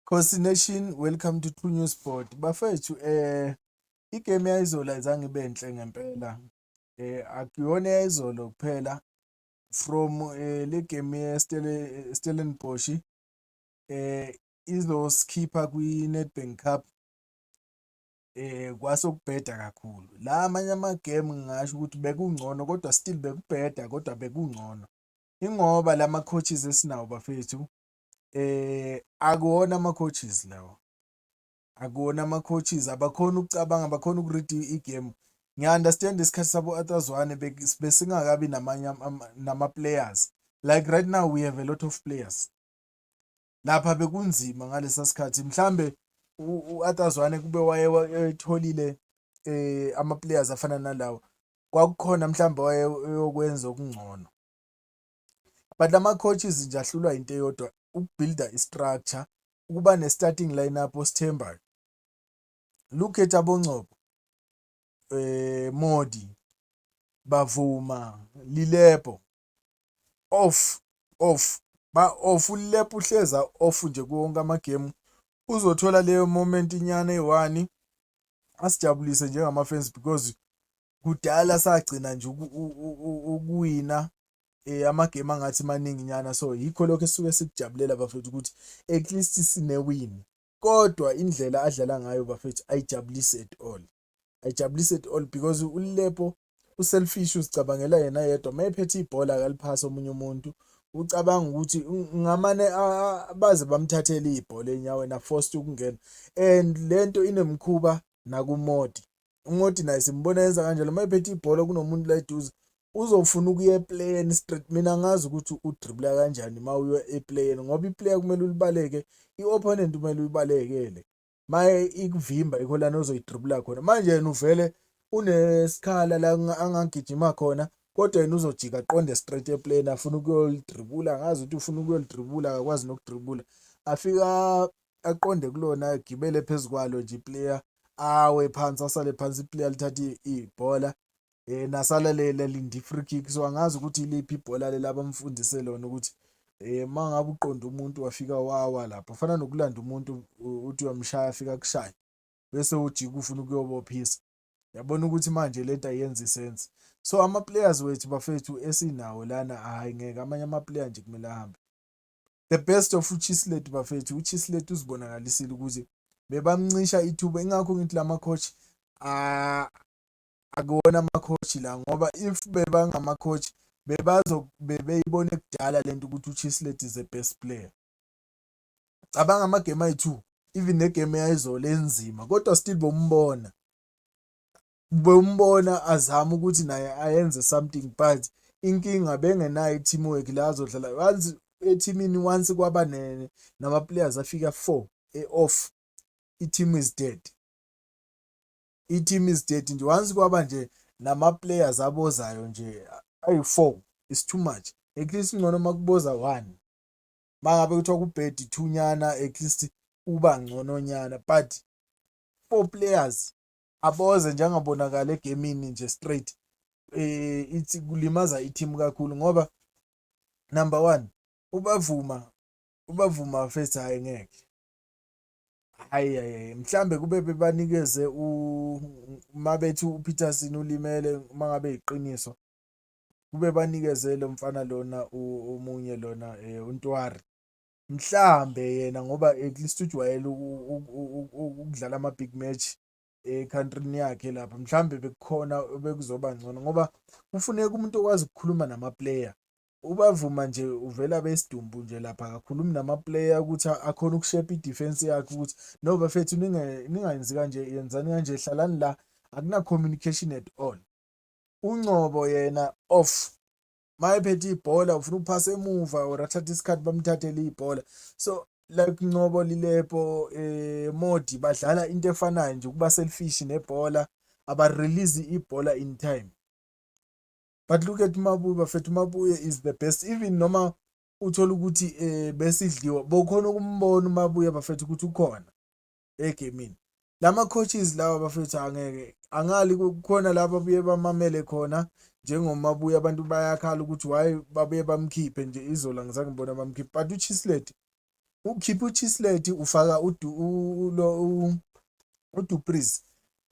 Khosi Nation welcome to True News Board bafethu eh igame yayizolo ayizange ibe nhle ngempela eh akuyona yayizolo kuphela from eh le game yeStellenbosch eh izosikhipha kwi-Nedbank Cup eh kwasokubheda kakhulu la amanye ama-game ngingasho ukuthi bekungcono kodwa still bekubheda kodwa bekungcono ingoba lama coaches esinawo bafethu akuwona ama coaches lawa akuwona ama coaches abakhona ukucabanga abakhona uku-read i-game ngiya-understand isikhathi sabo atazwane besingakabi namanye nama-players like right now we have a lot of players lapha bekunzima ngalesa sikhathi mhlambe u-Arthur Zwane kube wayetholile eh ama players afana nalawo kwakukhona mhlawumbe wayeyokwenza okungcono but lama coaches nje ahlulwa into eyodwa ukubuilda istructure ukuba ne starting lineup osithembayo look at abongcobo eh Modi bavuma lilebo off off ba off ulep uhleza off nje kuwonke amagemu uzothola leyo moment inyana eyi-one asijabulise njengama-fans because kudala sagcina nje ukuwina eh amagame angathi maningi nyana so yikho lokho esuke sikujabulela bafethu ukuthi at least sinewini kodwa indlela adlala ngayo bafethu ayijabulisi at all ayijabulisi at all because uLepo uselfish uzicabangela yena yedwa uma ephethe ibhola akaliphasi omunye umuntu ucabanga ukuthi ngamane baze bamthathele ibhola enyaweni aforced ukungena and lento inemkhuba nakumodi umodi naye simbona yenza kanjalo uma ephethe ibhola kunomuntu la eduze uzofuna ukuya eplayeni straight mina ngazi ukuthi udribula kanjani uma uya eplayeni ngoba iplayer kumele ulibaleke i-opponent kumele uyibalekele maye ikuvimba yikho lana ozoyidribula khona manje yena uvele unesikhala la angagijima khona kodwa yena uzojika aqonde straight eplane afuna ukuyolidribula angazi ukuthi ufuna ukuyolidribula akakwazi nokudribula afika aqonde kulona agibele phezu kwalo nje iplayer awe phansi asale phansi iplayer lithathe ibhola um nasala lelinde i-free kick so angazi ukuthi iliphi ibhola leli abamfundise lona ukuthi um uma ngabe uqonda umuntu wafika wawa lapho fana nokulanda umuntu uthi uyamshaya afika kushaya bese ujika ufuna ukuyobophisa yabona ukuthi manje le nto ayenza isense so ama-players wethu bafethu esinawo lana hhayi ngeke amanye ama-player nje kumele ahambe the best of uchislet bafethu uchislet uzibonakalisile ukuthi bebamncisha ithuba ingakho ngithi la ma-coach akuwona ama-coach la ngoba if bebangama-coach bebeyibone kudala le nto ukuthi uChislett is a best player. Cabanga amagemu ayi-two even negemu eyayizolo enzima kodwa still bombona bewumbona azama ukuthi naye ayenze something but inkinga bengenayo i-team work la azodlala once ethimini once kwaba nama-players afika four e-off i-team is dead i-team is dead nje once kwaba nje nama-players abozayo nje ayi-four is too much at least ingcono uma kuboza one uma ngabe kuthiwa kubhedi two nyana at least uba ngcono nyana but four players aboze njengabonakala egemini nje straight eh ithi kulimaza i-team kakhulu ngoba number one ubavuma ubavuma first hhayi ngeke hayi hayi mhlambe kube bebanikeze uma bethi uPeterson ulimele uma ngabe iqiniso kube banikeze lo mfana lona omunye lona eh, uNtwari mhlambe yena ngoba at least ujwayele ukudlala ama-big match ekhantrini yakhe lapha mhlawumbe bekukhona bekuzoba ngcono ngoba kufuneka umuntu okwazi ukukhuluma namaplayer ubavuma nje uvela besidumbu nje lapha akakhulumi namaplayer ukuthi akhona ukushepa idefense yakhe ukuthi no bafethu ningayenzi kanje yenzani kanje hlalani la akuna-communication at all uncobo yena off uma ephethe ibhola ufuna ukuphasa emuva or athathe isikhathi bamthathele ibhola so like Ncobo Lilepo eh Modi badlala into efanayo nje ukuba selfish nebhola aba release ibhola in time but look at Mabuye bafethu Mabuye is the best even noma uthola ukuthi eh besidliwa bokhona ukumbona uMabuye bafethu ukuthi ukhona egemini lama coaches lawa bafethu angeke angali kukhona laba buye bamamele khona njengoma buye abantu bayakhala ukuthi why babuye bamkhiphe nje izola ngizange ngibona bamkhiphe but uchisleti ukhipha uchisleti ufaka ulo udupris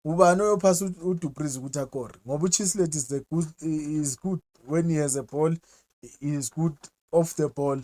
ubani oyophasa udupris ukuthi akore ngoba uchisleti is the good is good when he has a ball he is good off the ball